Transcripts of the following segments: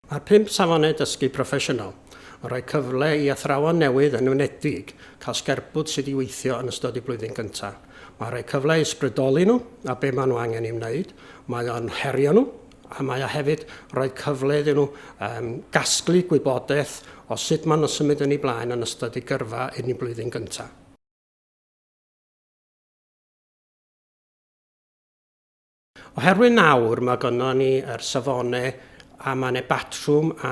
Mae pump safonau dysgu proffesiynol yn rhoi cyfle i athrawon newydd yn wnedig cael sgerbwd sydd i weithio yn ystod y blwyddyn gyntaf. Mae'n rhoi cyfle i ysbrydoli nhw a be maen nhw angen ei wneud, mae o'n herio nhw a mae o hefyd rhoi cyfle iddyn nhw um, gasglu gwybodaeth o sut maen nhw'n symud yn ei blaen yn ystod ei gyrfa yn ei blwyddyn gyntaf. Oherwydd nawr mae gynno ni yr safonau a mae yna batrwm a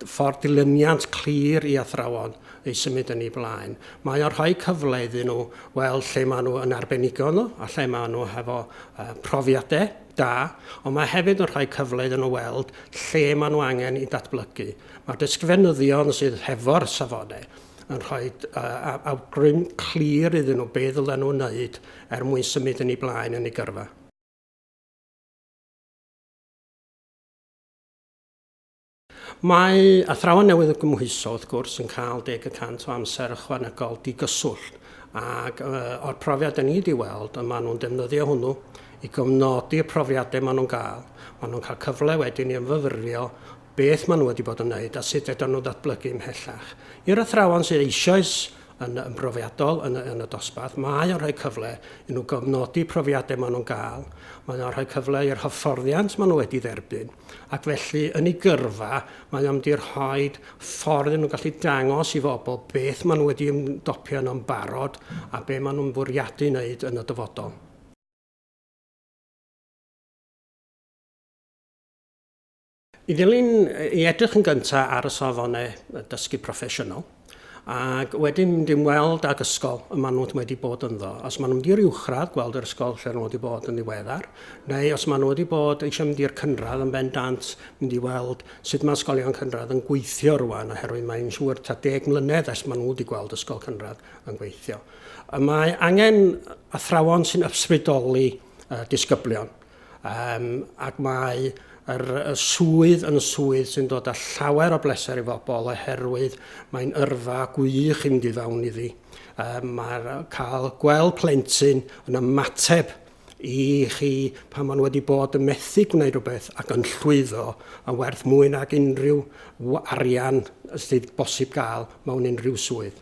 ffordd dilyniant clir i athrawon ei symud yn ei blaen. Mae o'n rhoi cyfle iddyn nhw weld lle maen nhw yn arbenigo nhw a lle maen nhw hefo uh, profiadau da, ond mae hefyd yn rhoi cyfle iddyn nhw weld lle maen nhw angen i datblygu. Mae'r ysgrifennyddion sydd hefo'r safonau yn rhoi uh, awgrym clir iddyn nhw be ddylen nhw wneud er mwyn symud yn ei blaen yn ei gyrfa. Mae athrawon newydd o gymhwyso, wrth gwrs, yn cael deg y cant o amser ychwanegol digyswllt, ac o'r profiad da ni wedi weld, y maen nhw'n defnyddio hwnnw i gofnodi y profiadau maen nhw'n gael. Maen nhw'n cael cyfle wedyn i ymfyfyrio beth maen nhw wedi bod yn wneud a sut fedrwn nhw ddatblygu ymhellach. I'r athrawon sydd eisoes yn yn brofiadol yn, yn y dosbarth. Mae o'n rhoi cyfle i nhw gofnodi profiadau maen nhw'n gael, mae o'n rhoi cyfle i'r hyfforddiant maen nhw wedi dderbyn, ac felly yn ei gyrfa mae o'n mynd i rhoi ffordd yn nhw'n gallu dangos i fobl beth maen nhw wedi ymdopio yn o'n barod a be maen nhw'n fwriadu wneud yn y dyfodol. I ddilyn i edrych yn gyntaf ar y safonau dysgu proffesiynol, ac wedyn mynd i'n weld ag ysgol y maen nhw wedi bod ynddo. Os maen nhw wedi i'r uwchradd, gweld yr ysgol lle nhw wedi bod yn ddiweddar, neu os maen nhw wedi bod eisiau mynd i'r cynradd yn bendant, mynd i weld sut mae ysgolion cynradd yn gweithio rwan, oherwydd mae'n siŵr ta deg mlynedd ers maen nhw wedi gweld ysgol cynradd yn gweithio. Y mae angen athrawon sy'n ysbrydoli uh, disgyblion. Yym, ac mae yr y swydd yn swydd sy'n dod â llawer o bleser i fobl oherwydd mae'n yrfa gwych i fynd i fewn iddi. Yym, mae'r yy cael gweld plentyn yn ymateb i chi pan maen nhw wedi bod yn methu gwneud rhywbeth ac yn llwyddo yn werth mwy nag unrhyw w- arian sydd bosib gael mewn unrhyw swydd.